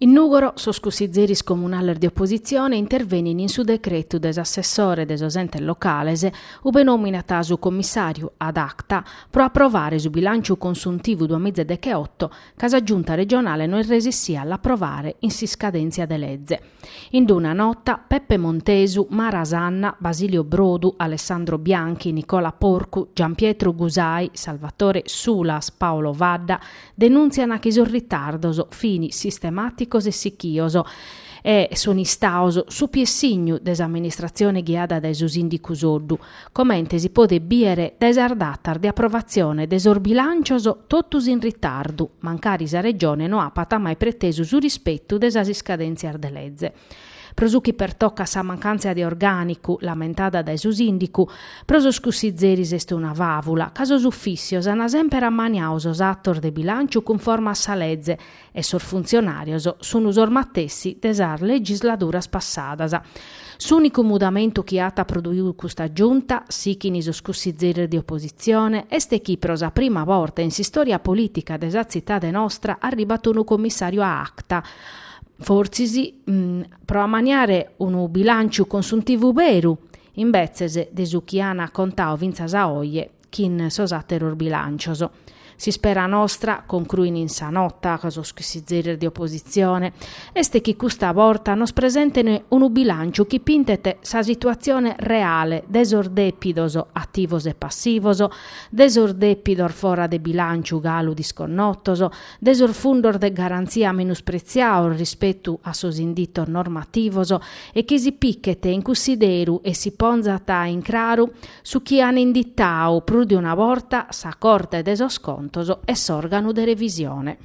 In Nùgoro sos cussizeris comunales de opositzione intervenint in su decretu de s'assessore de sos entes locales ube nòminat su commissàriu ad acta pro aprovare su bilànciu consuntivu duas mìgia deche-oto ca sa Giunta comunale no est resissia a l'approvare in s'iscadèntzia de leze. In d'una nota, Peppe Montesu, Mara Sanna, Basilio Brodu, Alessandro Bianchi, Nicola Porcu, Gianpietro Gusai, Salvatore Sulas, Paolo Fadda, denùntziant chi sos ritardos fin sistemàticos e sichios e sun istados su piessignu de s'amministratzione ghiada dae su sìndicu Soddu, comente si podet bìdere dae sas datas de aprovatzione de sos bilàncios totus in ritardu, mancari sa Regione no apat mai pretesu su rispetu de sas iscadèntzias de leze. Pro su chi pertocat sa mancàntzia de orgànicu, lamentada dae su sìndicu, pro sos cussizeris est una fàvula, ca sos ufìssios ant semper ammaniadu sos atos de bilànciu cunforme a sa leze, e sos funtzionàrios sun sos matessi de sas legisladuras passadas. S'ùnicu mudamentu chi at produidu custa Giunta, sighint sos cussizzeris de opositzione, est chi pro sa prima borta in s'istòria polìtica de sa tzitade nostra arribat unu commissàriu ad acta, fortzis pro ammaniare unu bilànciu consuntivu beru, imbetzes de su chi an contadu fintzas a oje chin sos atteros bilancios. S'ispera nostra, concruin in sa nota sos cussizzeris de oppositzione, est chi custa borta nos presenten unu bilanciu chi pintet sa situatzione reale de sos depidos, attivos e passivos, de sos depidos fora de bilanciu galu disconnotos, de sos fundos de garantzia menuspretziados rispetu a sos inditos normativos e chi si pichet in cussideru e si ponzat in craru su chi an inditau prus de una borta sa Corte de sos Contos e s'òrganu de revisione.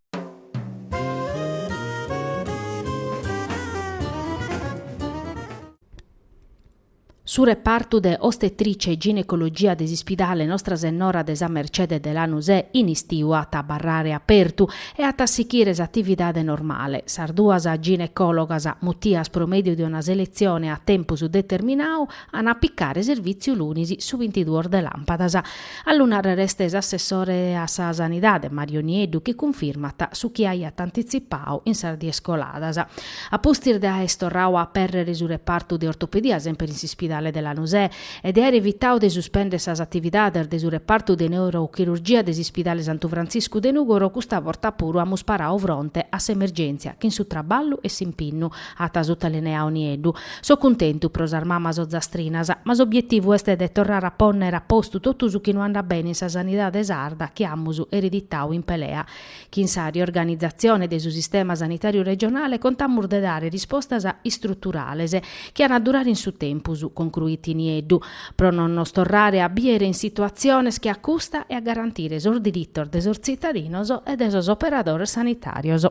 Su repartu de Ostetricia e Ginecologia de s'ispidale Nostra Sennora de sa Mercede de Lanusè in istiu at a abarrare apertu e at a sighire s'atividade normale. Sas duas ginecòlogas, mutias pro mèdiu de una seletzione a tempus determinadu, an a picare servìtziu lunis su bintiduos de làmpadas. A lu nàrrere est s'assessore a sa Sanidade, Mario Nieddu, chi cunfirmat su chi aiat antitzipadu in sas dies coladas. A pustis de aer torradu a apèrrere su repartu de ortopedia semper in s'ispidale de Lanusè e de aer evitadu de suspèndere sas atividades de su repartu de neurochirurgia de s'ispidale Santu Frantziscu de Nùgoro custa borta puru amus paradu fronte a s'emergèntzia chin su traballu e s'impinnu At sutalineau Nieddu. So cuntentu pro sas mamas ozastrinas, ma s'obietivu est de torrare a ponnere a postu totu su chi no andat bene in sa sanidade sarda chi amus ereditau in pelea. Chin sa riorganizatzione de su sistema sanitàriu regionale contamus de dare rispostas istruturales chi an a durare in su tempus, concruit Nieddu, pro non nos torrare a bìere in situatziones che a custa e a garantire sos diritos de sos tzitadinos e de sos operadores sanitàrios.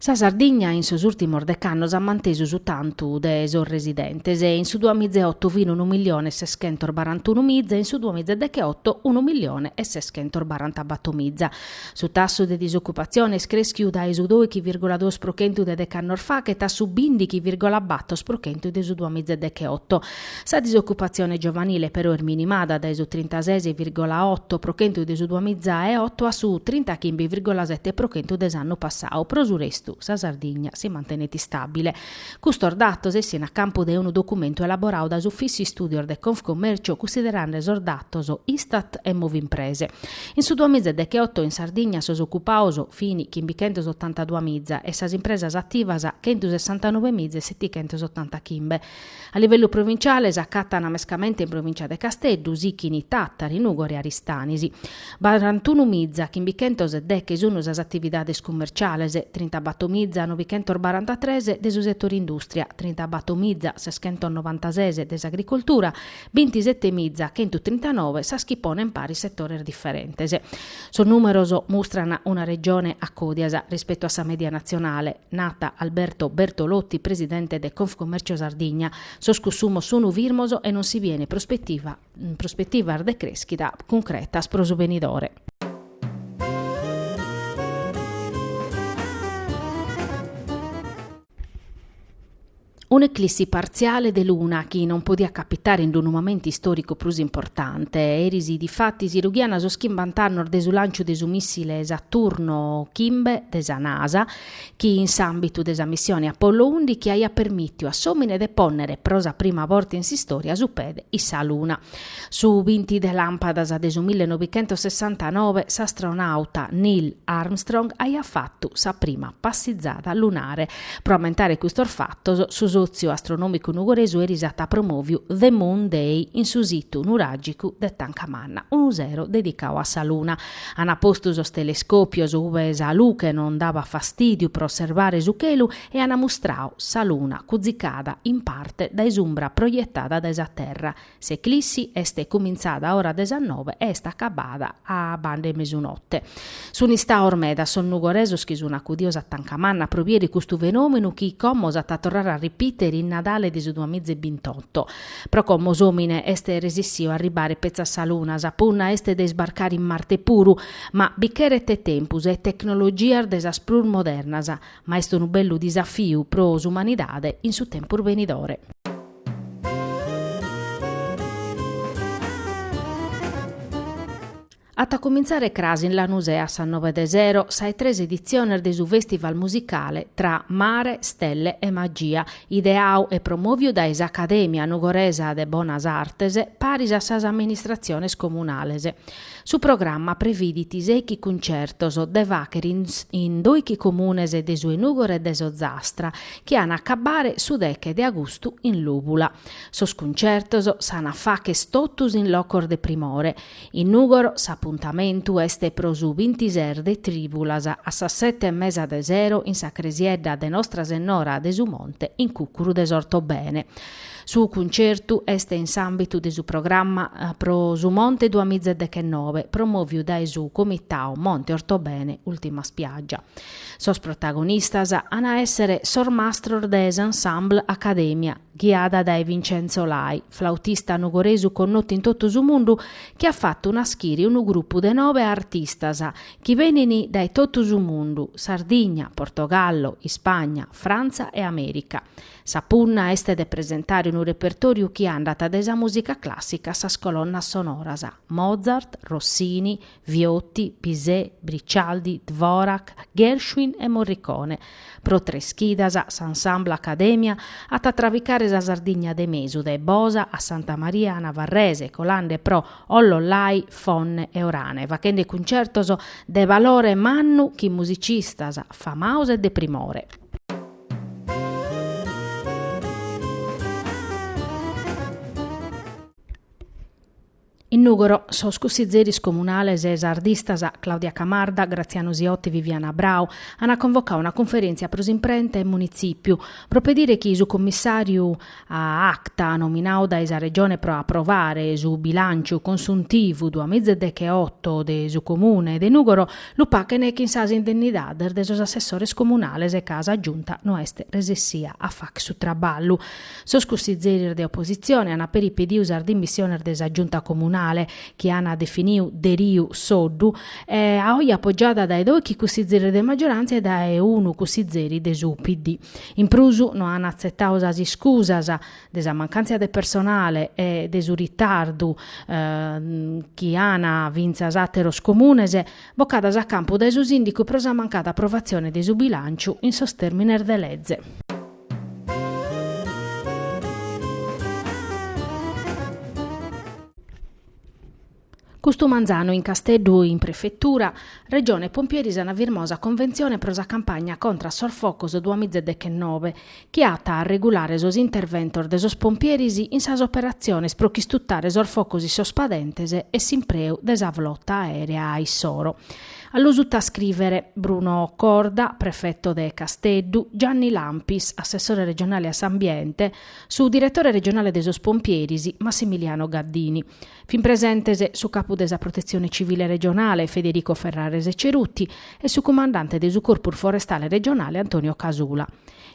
Sa Sardigna in sos ùrtimos dec'annos at mantesu su tantu de sos residentes, in su duamiza e oto fin unu milione e seschentos barantunu miza e in su duamiza e decheoto unu milione e seschentos barantabato miza. Su tassu de disocupatzione est crèschiu dae su dòichi vìrgula duos pro chentu de dec'annos fachet a su bìndichi vìrgula batos pro chentu de su duamiza e decheoto. Sa disocupatzione giovanile però est minimada dae su trintases virgola oto pro chentu de su duamiza e oto a su trintachimbi virgola sete pro chentu de s'annu passau. Pro su restu, sa Sardigna si mantenet istàbile. Custos datos essint a campu de unu documentu elaborau dae s'Ufìssiu Istùdios de Confcommercio cussiderande sos datos Istat e Movimprese. In su duamiza e decheoto in Sardigna sos ocupaos fini chimbichentos otantadua miza e sas impresas ativas chentusessantanove miza e setichentos otantachimbe. A livellu provintziale s'acatana mescamente in provìntzia de Casteddu, sichini Tàtari, Nùgoro e Aristanis. Barantunu miza chimbichentos e deche sunu sas atividades cummerciales, trintabato miza novichentos barantatres de su settore industria, trintabato miza seschentos novantases de s'agricoltura, Bintisete miza chentu trintanove sas chi ponen paris setores diferentes. Sos nùmeros mustran una Regione a còdias rispetu a sa mèdia natzionale, nat Alberto Bertolotti, presidente de Confcommercio Sardigna, sos cussumos sunu firmos e non si bient prospetivas de crèschida cuncretas pro su benidore. Un'eclissi partziale de luna chi non podiat capitare in unu momentu istòricu prus importante. Eris difatis rughiant sos chimbant'annos de su lànciu de su mìssile Saturno chimbe de sa Nasa chi in s'àmbitu de sa missione Apollo ùndichi aiat permìtiu a s'òmine de pònnere pro sa prima borta in s'istòria su pede in sa luna. Su binti de làmpadas de su mille novichentos sessantanove s'astronàuta Neil Armstrong aiat fatu sa prima passizada lunare. Pro ammentare custos fatos, su Sòtziu Astronòmicu Nugoresu eris at promòviu The Moon Day in su situ nuràgicu de Tanca Manna, unu sero dedicau a sa luna. Ant postu sos telescòpios ube sa luche non dabat fastìdiu pro osservare su chelu e ant mustrau sa luna cuzicada in parte dae s'umbra proietada dae sa terra, S'eclissi est cumintzada a ora de sas nove e est acabada a banda 'e mesunote. Sun istaos medas sos nugoresos chi sun acudios a Tancamanna pro bìere custu fenòmenu chi como s'at a torrare a repìtere in Nadale de su duamiza e bintotto. Pro como s'òmine est resessìu a arribare petza a sa Luna, sa punna est de isbarcare in Marte puru, ma bi cheret tempus e tecnologias de sas prus modernas. Ma est unu bellu disafiu pro s'umanidade in su tempus benidore. At a cumintzare cras in Lanusè a sas noe de sero sa 'e tres editziones de su fèstival musicale Tra mare, stelle e magia, ideau e promòviu dae s'Acadèmia nugoresa de Bonas Artes paris a sas amministratziones comunales. Su programma previdit seichi cuncertos de fàchere in doichi comunes de su Nugoresu e de s'Ozastra, chi an a acabare su deche de agustu in Lùbula. Sos cuncertos s'an a fàcher totus in locos de primore. In Nùgoro s'apuntamentu est pro su bintises de trìbulas a sas sete e mesa de sero in sa cresiedda de Nostra Sennora de su Monte in cùcuru de s'Ortobene. Su cuncertu est in s'àmbitu de su programma Pro su Monte duamizadechennobe promòviu dae su Comitau Monte Ortobene Ultima Spiaggia. Sos protagonistas an a èssere sos mastros de s'Ensemble Academia, ghiada dae Vincenzo Lai, flautista nugoresu connotu in totu su mundu chi at fatu nàschire unu grupu de nobe artistas chi benint dae totu su mundu, Sardigna, Portogallo, Ispagna, Frantza e Amèrica. Sa punna est de presentare unu repertòriu chi andat dae sa mùsica clàssica a sas colonnas sonoras, Mozart, Rossini, Viotti, Bizet, Briccialdi, Dvorak, Gershwin e Morricone. Pro tres chidas, s'Ensemble Academia at a trabicare sa Sardigna de mesu dae Bosa a Santa Maria Navarrese, colande pro Ollollai, Fonne e Orane, fachende cuncertos de balore mannu chin musicistas famaos e de primore. In Nùgoro sos cussizeris comunales sardistas Claudia Camarda, Graziano Siotto e Viviana Brau ant convocau una cunferèntzia pro s'imprenta in munitzìpiu pro pedire chi su commissàriu ad acta nominau dae sa Regione pro aprovare su bilànciu consuntivu duamizadecheoto de su Comune de Nùgoro, lu pachen chin sas indennidades de sos assessores comunales ca sa Giunta no est resessia a fàcher su traballu. Sos cussizeris de opositzione ant peri pediu sas dimissiones de sa Giunta Comunale, chi ant definiu Deriu-Soddu, a oje apogiada dae doichi cussizeris de maggiorantzia e dae unu cussizeri de su PD. In prus no an atzetau sas iscusas de sa mancàntzia de personale e de su ritardu chi an fintzas àteros comunes, bocadas a campu dae su Sìndicu pro sa mancada aprovatzione de su bilànciu in sos tèrmines de leze. Custu manzanu in Casteddu in Prefetura, Regione e Pompieris ana firmau sa conventzione pro sa campagna contra a sos focos duas miza e dechennove, chi at a arregulare sos interventos de sos pompieris in sas operatziones pro ch'istutare sos focos in sos padentes e s'impreu de sa flota aerea a issoro. A lu sutascrivere, Bruno Corda, Prefeto de Casteddu, Gianni Lampis, Assessore Regionale a s'Ambiente, su Diretore Regionale de sos Pompieris, Massimiliano Gaddini. Fin presentes su capu de sa Protetzione Civile regionale, Federico Ferrarese Ceruti, e su cumandante de su Corpus Forestale regionale, Antonio Casula.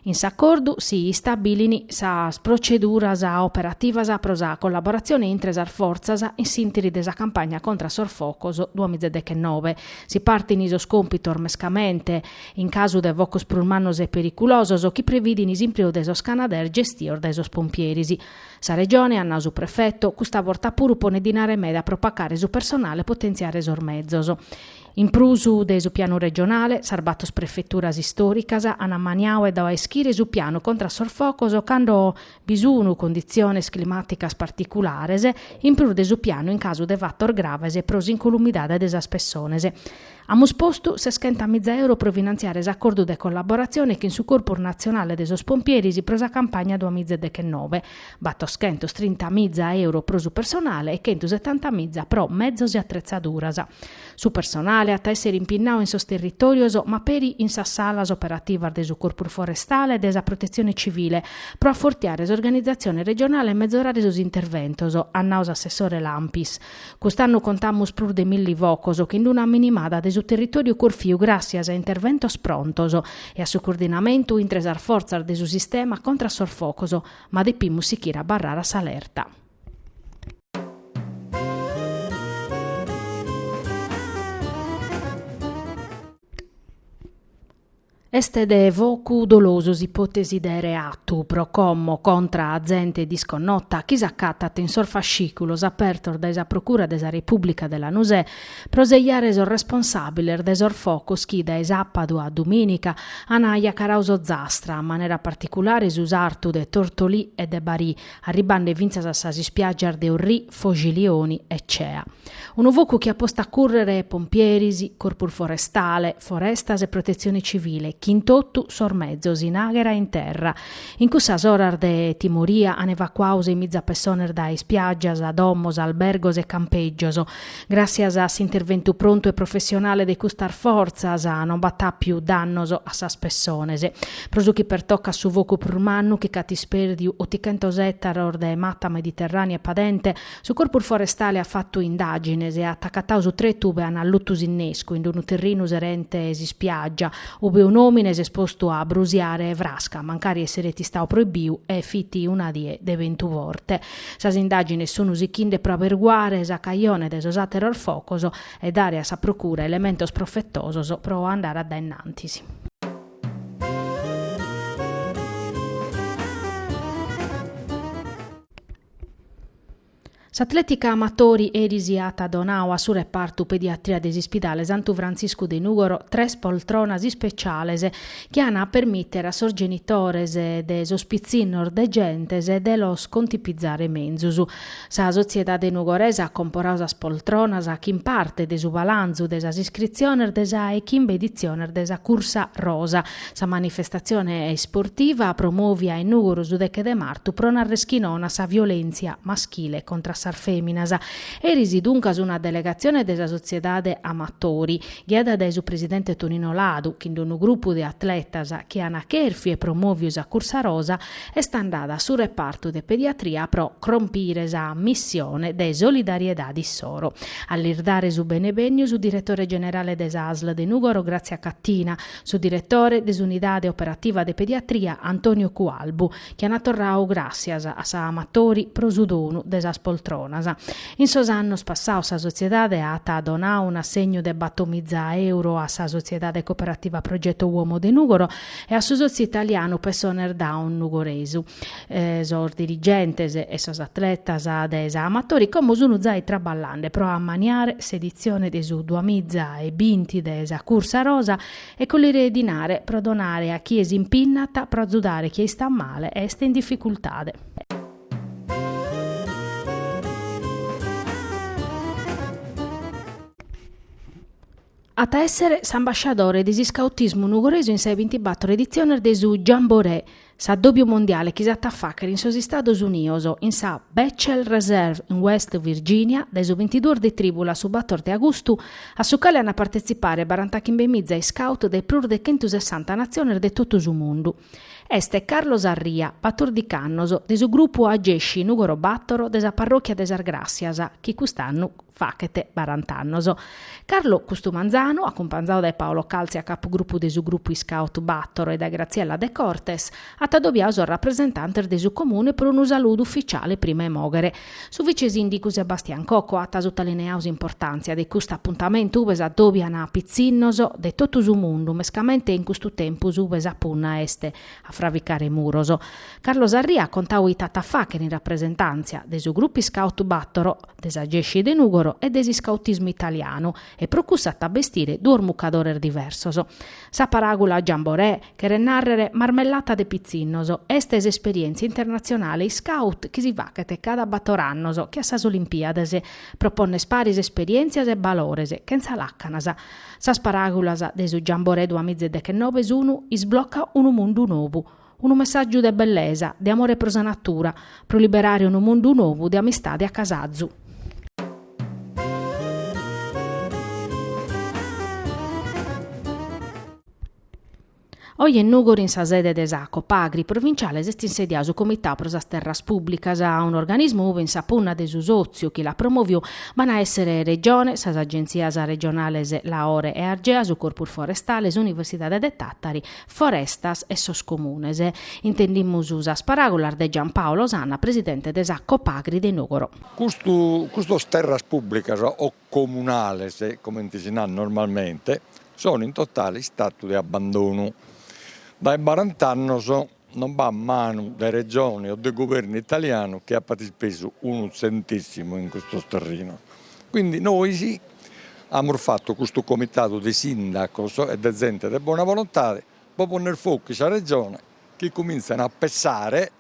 In s'acordu si istabilin sas proceduras operativas pro sa collaboratzione intre sas fortzas in s'intiri de sa campagna contra a sos focos duamizadechennobe. Si partin sos compitos mescamente in casu de focos prus mannos e periculosos chi previdin s'impreu de sos canadair gestios dae sos pompieris. Sa Regione, at nau su prefetu, custa borta puru ponet dinare meda pro pacare su personale e potentziare sos mezos. In prus de su pianu regionale, sas bator prefeturas istòricas an ammaniau e dau a ischire su pianu contra a sos focos cando bi sun conditziones climàticas particulares, in prus de su pianu in casu de fatos graves pro s'incolumidade de sas pessones. Amus postu seschenta miza euro pro finantziare s'acordu de collaboratzione chin su Corpus Natzionale de sos Pompieris pro sa campagna duas miza e dechenove, batoschentos trinta miza euro pro su personale e chentu setanta miza pro mezos e atretzaduras. Su personale at a èssere impinnau in sos territòrios ma peri in sas salas operativas de su Corpus Forestale e de sa Protetzione Civile pro afortiare s'organizatzione regionale e mezorare sos interventos, at nau s'assessore Lampis. Cust'annu contamus prus de milli focos chin d'una minimada de su territòriu corfiu gràssias a interventos prontos e a su coordinamentu intre sas fortzas de su sistema contra a sos focos, ma depimus sichire abarrare a s'alerta. Est de focu dolosu s'ipòtesi de reatu pro como contra a zente disconnota chi s'acatat in sos fascìculos apertos dae sa Procura de sa Repùblica de Lanusè pro sejare sos responsàbiles de sos focos chi dae sàpadu a dumìnica an ajacarau s'Ozastra, a manera particulare su sartu de Tortolì e de Barì, arribande fintzas a sas ispiàgias de Orrì, Foxilioni e Cea. Unu focu chi at postu a cùrrere pompieris, Corpus Forestale, Forestas e Protetzione Civile, chin totu sos mezos, in àghera e in terra, in cussas oras de timoria, an evacuadu seis miza pessones dae ispiàgias, domos, albergos e campègios, Gràssias a s'interventu prontu e professionale de custas fortzas non b'at àpiu dannos a sas pessones. Pro su chi pertocat su focu prus mannu chi ch'at ispèrdiu otichentos ètaros de mata mediterrània e padente, su Corpus Forestale at fatu indàgines e at acatadu su tretu ube an allutu s'innescu in unu terrinu serente s'ispiàgia, ube un'òmine s'est postu a brusiare frasca, mancari esseret istadu proibiu e fit una die de bentu forte. Sas indàgines sun sichinde pro aberguare sa cajone de sos àteros focos e dare a sa procura elementos profetosos pro andare a dae innantis. S'atlètica amatori eris at donadu a su repartu pediatria de s'Ispidale Santu Frantziscu de Nùgoro tres poltronas ispeciales chi an a permìtere a sos genitores de sos pitzinnos degentes de los contipizare menzus. Sa sotziedade nugoresa at comporadu sas poltronas chin parte de su balanzu de sas iscritziones de sa 'e chimbe editziones de sa Cursa Rosa, sa manifestatzione isportiva promòvia in Nùgoro su deche de martu pro nàrrere chi nono a sa violèntzia maschile contra a sas fèminas. Eris duncas una delegatzione de sa sotziedade Amatori, ghiada dae su presidente Tonino Ladu, chin d-unu grupu de atletas chi an acherfiu e promòviu sa cursa rosa, est andada a su repartu de pediatria pro crompire sa missione de solidariedade issoro. A lis dare su benevènniu su diretore generale de sa asl de Nùgoro Grazia Cattina, su diretore de s'unidade operativa de pediatria Antonio Cualbu, chi ana torrau gràssias a sa Amatori pro su donu de sas poltronas. In sos annos passados sa sotziedade at donau un'assegnu de bator miza euro a sa Sotziedade Cooperativa Progetto Uomo de Nùgoro e a su Sotziu Italianu Pessones Down Nugoresu. Sos dirigentes e sos atletas de sa Amatori como sun zai traballende pro ammaniare s'editzione de su duamiza e binti de sa Cursa Rosa E collire dinare, pro donare a chie s'impinnat, pro azudare chie istat male e est in difficultade. At a èssere s'ambasciadore de s'iscautismu nugoresu in sa 'e bintibattoro editziones de su Jamboree, S'addòbiu mondiale chi s'at a fàghere in sos Istados Unidos, in sa Bechtel Reserve in West Virginia, dae su bintiduos de trìbulas a su bator de agustu, a su cale ant a partetzipare barantachimbemitza iscaut dae prus de chentusessanta natziones de totu su mundu, est Carlos Arria, batordic'annos, de su grupu Agesci Nùgoro Bàtoro de sa parròchia de Sas Gràssias, chi cust'annu. Faghet barant'annos. Carlo custu manzanu, acumpanzadu dae Paolo Calzia capugrupu de su grupu Iscaut Battoro e dae Graziella De Cortes, at adobiadu sos rapresentantes de su Comune pro unu saludu ufficiale prima 'e moghere. Su vicesìndicu Sebastian Cocco at sutaliniau s'importàntzia de custu apuntamentu ube s'adòbian pitzinnos de totu su mundu, mescamente in custu tempus ube sa punna est A fraficare muros. Carlo Sarria at contadu ite at a fàghere in rapresentàntzia de su Grupu Iscàutu Bàtoro, de s'Agesci de Nùgoro e de s'iscautismu italianu e pro cussu at a bestire duos mucadores diversos. Sa paràgula jamboree, cheret nàrrere marmellata de pitzinnos, est s'esperièntzia internatzionale iscàut chi si faghet cada bator annos che a sas Olimpìades. Pro pònnere paris esperièntzias e balores, chentza làcanas. Sas paràgulas de su Jamboree duamiza e deghennobe sunu Isblocca unu mundu nobu. Unu messàgiu de bellesa, de amore pro sa natura, pro liberare unu mundu nobu de amistade a casazu. Oje in Nùgoro in sa sede de sa Copagri provinciale s'est insediau su Comitau pro sas Terras Pùbblicas, un'organismu ubi in sa punna de su sòtziu chi l'at promoviu b'an a èssere Regione, sas agentzias regionales Laore e Argea, su Corpus Forestale, s'Universidade de Tàtari, Forestas e sos Comunes. Intendimus sas paràgulas de Giampaolo Sanna, presidente de sa Copagri de Nùgoro. Custas Terras Pùbblicas o comunales, comente si narat normalmente, sono in totale istatu de abbandonu. Dae barant'annos non b'at manu de Regione o de Guvernu italianu chi apat ispesu unu tzentèssimu in custos terrinos. Quindi nois amus fatu custu comitadu de sindacos e de zente de bona volontade pro ponner focu in sa Regione chi comintzan a pensare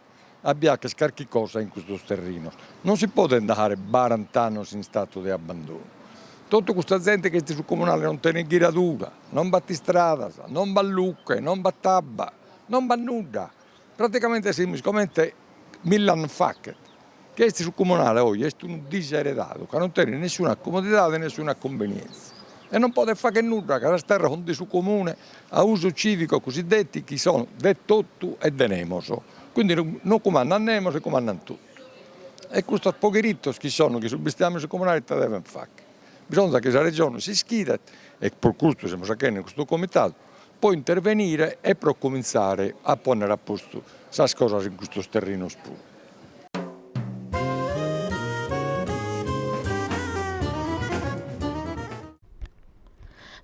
a bi fàcher carchi cosa in custos terrinos. Non si podet andare barant'annos in statu de abbandonu. Totu custa zente chi est su comunale non tenet ghiradura, non b'at istradas, non b'at luche, non b'at abba, non b'at nudda. Praticamente semus comente mille annos faghet. Chi est su Comunale oje est unu diseredadu ca non tenet nessuna comodidade e nessuna cumbenientzia e non podet fagher nudda ca sas terras sunt de su Comune a uso civico cosiddeti chi son de totu e de nemos, quindi non cumandat nemos e cumandat totu e custos poberitos chi son chi sun bestiàmene in su Comunale ite deven fagher? Bisonzat chi sa Regione s'ischidet e pro custu semus fachende custu Comitadu pro intervenire e pro comintzare a pònnere a postu sas cosas in custos terrenos puru.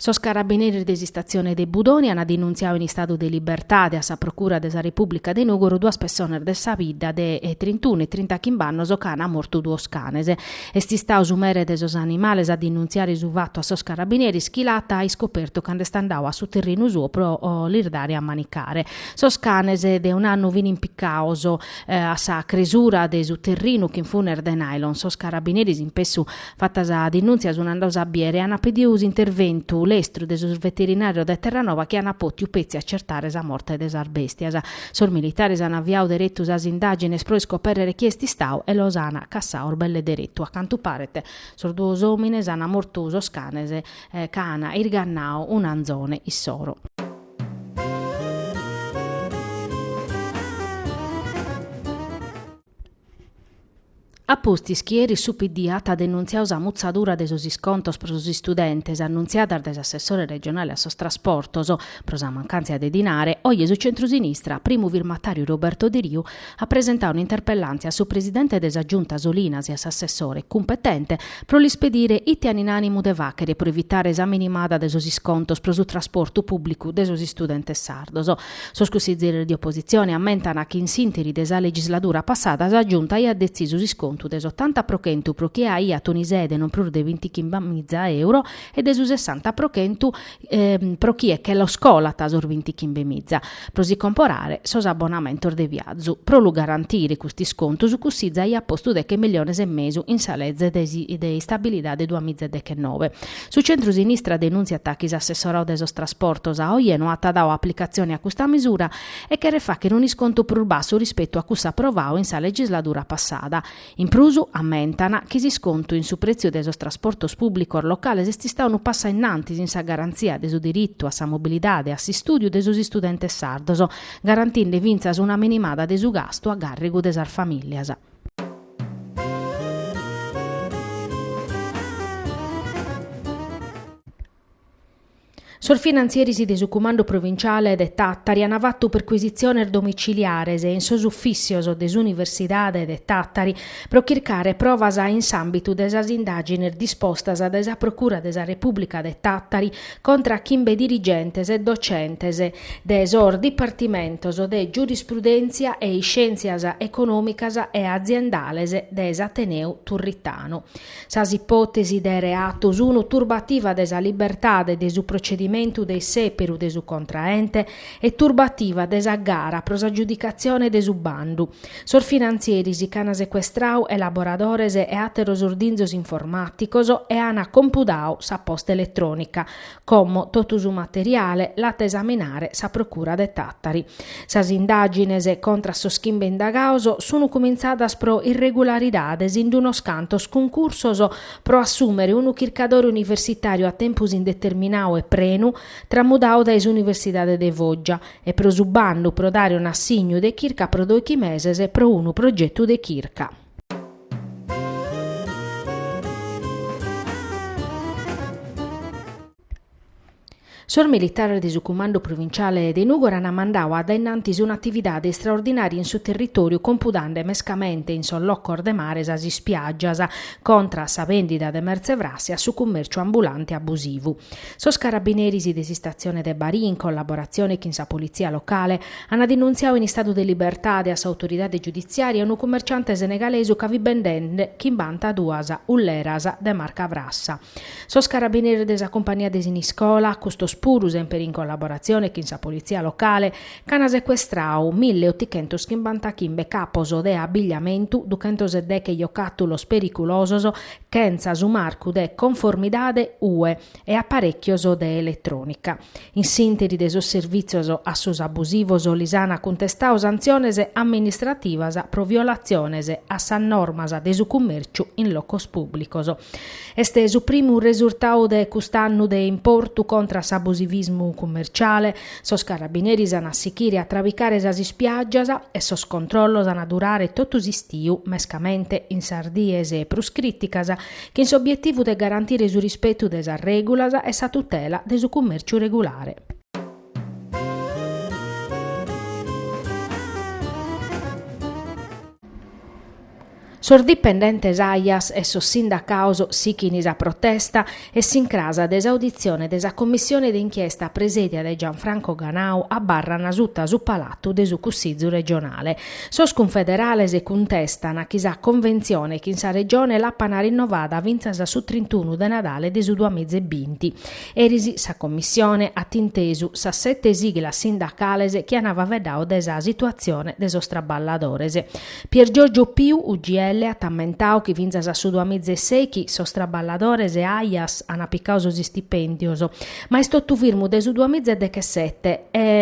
Sos carabineris de s'istatzione de Budoni ant denuntziadu in istadu de libertade a sa Procura de sa Repùblica de Nùgoro duas pessonas de sa bidda de trintunu e trintachimb'annos ca ant mortu duos canes. Est istau su mere de sos animales a denunziare su fatu a sos carabineris chi l'at iscopertu cando est andau a su terrinu suo pro lis dare a manicare. Sos canes de un'annu fin impiccaos a sa cresura de su terrinu chin funes de nylon. Sos carabineris in pessu fata sa denunzia sun andaos a biere e an pediu s'interventu lestru de sos veterinarios de Terranova chi an potiu petzi accertare sa morte de sas bestias. Sos militares an aviau deretu sas indàgines pro iscopèrrere chie est istau e los an cassaos belle deretu. A cantu paret, sos duos òmines an mortu sos canes ca an irgannau un'anzone issoro. A pustis chi eris su PD at denuntziau sa mutzadura de sos iscontos pro sos istudentes annuntziadas dae s'assessore regionale a sos trasportos pro sa mancàntzia de dinare, oje su centrusinistra, primu firmatàriu Roberto Deriu, at presentau un'interpellàntzia a su presidente de sa Giunta Solinas e a s'assessore cumpetente pro lis pedire ite an in ànimu de fàchere pro evitare sa minimada de sos iscontos pro su trasportu pùblicu de sos istudentes sardos. Sos cussizieres de opositzione ammentan chi in s'ìnteri de sa legisladura passada sa Giunta aiat detzisu s'iscontu de s'otanta pro chentu pro chie aiat un'ISEE de non prus de bintichimbe miza euro e de su sessanta pro chentu pro chie che los colat sos bintichimbe miza pro si comporare sos abbonamentos de viazu. Pro lu garantire custu iscontu su Cussizu aiat postu deche milliones e mesu in sa leze de istabilidade duamiza e dechennoe. Su centru-sinistra denùntziat chi s'assessorau de sos trasportos a oje no at dau aplicatzione a custa misura e cheret fàcher un'iscontu prus bassu rispetu a cussu aprovau in sa legisladura passada. In prus, ammentan, chi s'iscontu in su prètziu de sos trasportos pùblicos locales est istau unu passu a in antis in sa garantzia de su diritu a sa mobilidade e a s'istùdiu de sos istudentes sardos, garantinde fintzas una minimada de su gastu a càrrigu de sas famìlias. Sos finantzieris de su Cumandu Provintziale de Tàtari ant fatu percuisitziones domitziliares in sos ufìtzios de s'Universidade de Tàtari pro chircare provas in s'àmbitu de sas indàgines dispostas dae sa Procura de sa Repùblica de Tàtari contra a chimbe dirigentes e docentes de sos dipartimentos de Giurisprudèntzia e Iscièntzias Econòmicas e Aziendales de s'Ateneu Turritanu. Sas ipòtesis de reatos sunu turbativa de sa libertade de su procedimentu de sèperu de su contraente e turbativa de sa gara pro s'agiudicatzione de su bandu. Sos finantzieris ch'an secuestrau elaboradores e àteros ordinzos informàticos e an compudau sa posta eletrònica, como totu su materiale l'at a esaminare sa Procura de Tàtari. Sas indàgines contra a sos chimbe indagaos sun cumintzadas pro irregularidades in d'unos cantos cuncursos pro assùmere unu chircadore universitàriu a tempus indeterminau e prenu, tramudau dae s'Universidade de Foggia, e pro su bandu pro dare un'assignu de chirca pro dòichi meses pro unu progetu de chirca. Sos militares de su Cumandu Provinciale de Nùgoro an mandau a dainnantis un'atividade istraordinària in su territòriu compudande mescamente in sos locos de mare sas ispiàgias, contra a sa bèndida de mertze frassa e su cumèrciu ambulante abusivu. Sos carabineris de s'istatzione de Barì, in collaboratzione chin sa politzia locale, an denuntziau in istadu de libertade a s'autoridade giuditziària unu cumerciante senegalesu ca fit bendende chimbanta duas ulleras de marca frassa. Sos carabineris de sa cumpania de Siniscola, custos puru semper in collaboratzione chin sa politzia locale, Ch'ana secuestrau mille otichentos chimbanta chimbe capos de abbigliamentu, duchentos e deche jocàtulos periculosos chentza su marcu de conformidade UE e aparèchios de eletrònica. In s'ìnteri de sos servìtzios a sos abusivos lis an cuntestau santziones amministrativas pro violatziones a sas normas de su cummèrciu in locos pùblicos. Est su primu resurtau de cust'annu de importu contra s'abusivismu cummerciale, Sos carabineris an a sichire a trabicare sas ispiàgias e sos controllos an a durare totu s'istiu, mescamente in sas dies prus crìticas, chin s'obietivu de garantire su rispetu de sas règulas e sa tutela de su cummèrciu regulare. Sos dipendentes Aias e sos sindacaos sichin sa protesta e s'incras de s'auditzione de sa commissione de inchiesta presèdia dae Gianfranco Ganau abarran suta su palatu de su Cussizu regionale. Sos cunfederales cuntestan chi sa conventzione chin sa Regione l'apan rinnovada fintzas a su trintunu de Nadale de su duamiza e binti. Eris sa commissione at intesu sas sete siglas sindacales chi an faveddau de sa situatzione de sos traballadores. Pier Giorgio Piu, UGL, at ammentau chi fintzas a su duamizesèichi sos traballadores de Aias an picau sos istipèndios, ma est totu firmu de su duamizedechesete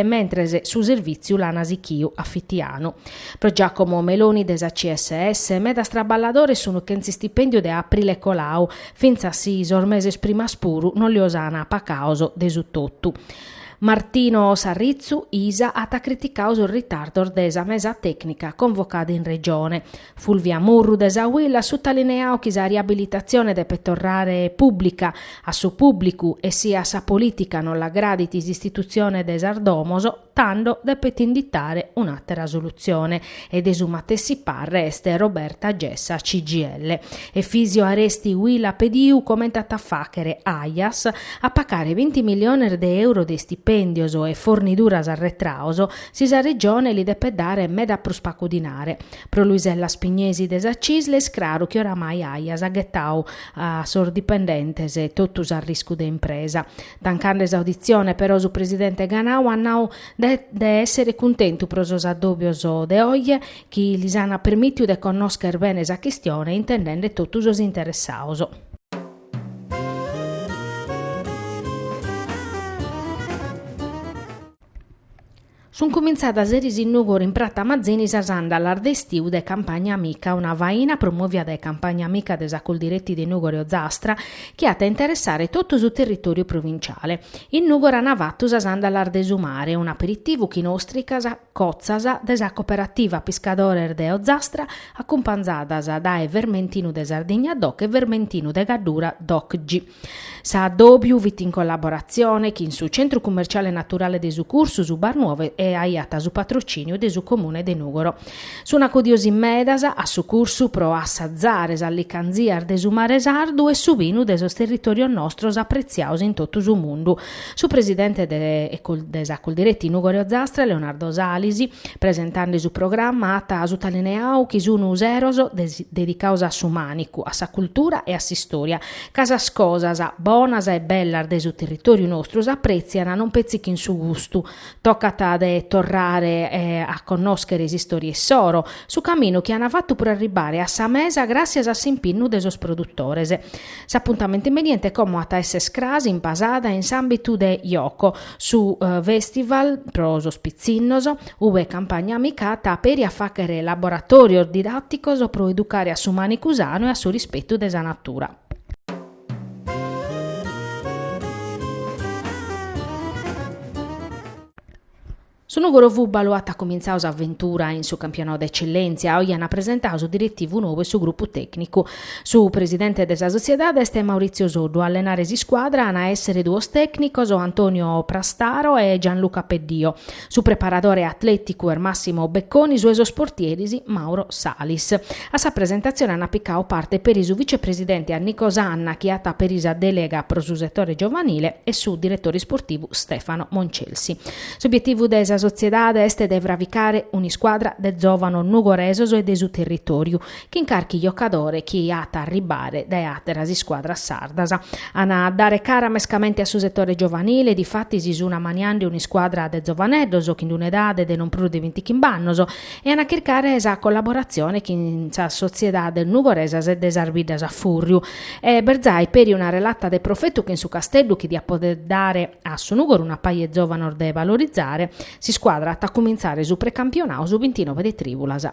mentres su servìtziu l'ana sichiu a fitianu. Pro Giacomo Meloni de sa CSS, medas traballadores sun chentz' istipèndiu dae aprile colau, fintzas si sos meses primas puru non lios ana pacaos de su totu. Martino Sarritzu Isa at criticau sos ritardos de sa mesa tècnica convocada in Regione. Fulvia Murru de sa UIL at sutalineau chi sa riabilitatzione depet torrare pùblica, a su pùblicu e si a sa polìtica non l'agradit s'istitutzione de sas domos, tando depet inditare un'àtera solutzione. e de su matessi parre est Roberta Gessa CGIL. Efisio Aresti UIL at pediu comente at a fàchere Aias a pacare binti miliones de euro de istipèndios e forniduras arretraos, si sa Regione li depet dare meda prus pacu dinare. Pro Luisella Spignesi de sa Cisl est craru chi oramai Aias at ghetau a sos dipendentes totu s'arriscu de impresa. Tancande s'auditzione però su presidente Ganau at nau de èssere cuntentu pro sos addòbios de oje chi lis ant permìtiu de connòscher bene sa chistione intendende totu sos interessados. Sun cumintzadas eris in Nùgoro in Prata Mazzini sas andalas de istiu de Campagna Amica, una faina promovia dae Campagna Amica de sa Coldiretti de Nùgoro e Ozastra chi at a interessare totu su territoriu provintziale. In Nùgoro ana fatu sas andalas de su mare, un'aperitivu chin ostricas cotzas de sa Cooperativa Piscadores de Ozastra acumpanzadas dae vermentinu de Sardigna doc e vermentinu de Gaddura docg. S'addòbiu fit in collaboratzione chin su Centru Cummerciale Naturale de su Cursu, su Bar Nuovo e aiat su patrocìniu de su Comune de Nùgoro. Sun acudios in medas a su cursu pro assazare sas licanzias de su mare sardu e su binu de sos territòrios nostros apretziaos in totu su mundu. Su presidente de sa Coldiretti Nùgoro-Ozastra, Leonardo Salis, presentande su programma at sutalineau chi sun seros dedicaos a su mànicu, a sa cultura e a s'istòria ca sas cosas bonas e bellas de su territòriu nostru s'aprètzian non petzi chin su gustu, tocat de torrare a connòschere s'istòria issoro, su caminu chi an fatu pro arribbare a sa mesa gràtzias a s'impinnu de sos produtores. S'apuntamentu imbeniente como at a esser cras in Pasada in s'àmbitu de Yoco, su festival pro sos pitzinnos, Ue Campagna Amica at peri a fàghere laboratòrios didàticos pro educare a su mànicu sanu e a su rispetu de sa natura. Su Nùgoro Fùbalu at cumintzau s'aventura in su campionau de Etzellèntzia, oje an presentadu su diretivu nou e su grupu tècnicu. Su presidente de sa sotziedade est Maurizio Soddu, a allenare s'iscuadra an a èssere duos tècnicos, Antonio Prastaro e Gianluca Peddio. Su preparadore atlèticu est Massimo Becconi, su 'e sos portieris Mauro Salis. A sa presentatzione ant picau parte peri su vicepresidente Nico Sanna chi at peri sa dèlega pro su setore giovanile e su diretore isportivu Stefano Moncelsi. S'obietivu de sa sotziedade est de fraficare un'iscuadra de zòvanos nugoresos e de su territòriu chin carchi jocadore chi at a arribbare dae àteras iscuadras sardas. An a dare cara mescamente a su setore giovanile, difatis sun ammaniende un'iscuadra de zovaneddos chin un'edade de non prus de bintichinb'annos e an a chircare sa collaboratzione chin sas sotziedades nugoresas e de sas biddas a fùrriu. Est bell'e jai peri una relata de profetu chin su Casteddu chi diat poder dare a su Nùgoro una paja 'e zovanos de valorizare, s'iscuadra at a cumintzare su precampionau su bintinoe de trìbulas.